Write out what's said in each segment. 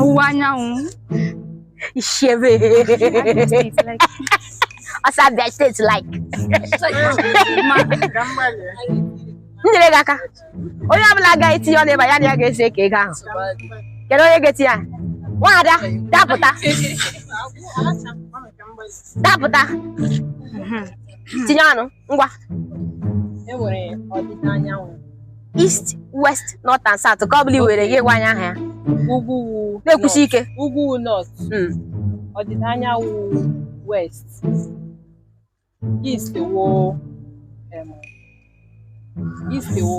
ọwụwa anyanwụ ishebe ọsọ abịa steeti like nyere gị aka onye ọbụla ga-etinye ọnụ ebe ya na ya ga-esi eke ego ahụ kedu onye ga-etinye nwaada dapụta dapụta tinye ọnụ ngwa e nwere ọdịda anyanwụ east west north and south nke ọ bụla i were gị gwa anyị aha ya ugwu wụ na-ekwusi ike north. ugwu wụ north Mm. ọdịda anyanwụ west east wụ em, east wụ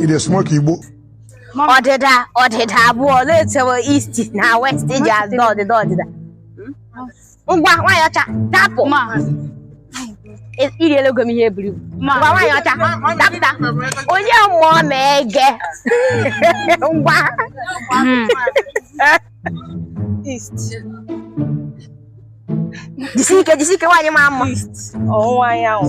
Ị na-esmoke igbo. Ọdịda ọdịda abụọ na-etewe east na west ji azụ ọdịda ọdịda. Ngwa nwaanyị ọcha dapụ. I riela ego m ihe eburu ibu. Ngwa nwaanyị ọcha dapụta. Onye mmụọ ma ege. Ngwa. Jisi ike jisi ike nwaanyị mara mma. Ọwụwa anyanwụ.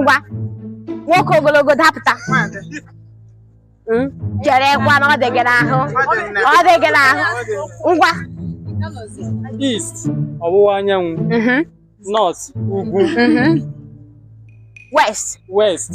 ngwa nwoke ogologo dapụta cherekwa na ọ dị gị n'ahụ ọ dị gị n'ahụ ngwa East ọwụwa anyanwụ mhm, North ugwu mhm. west West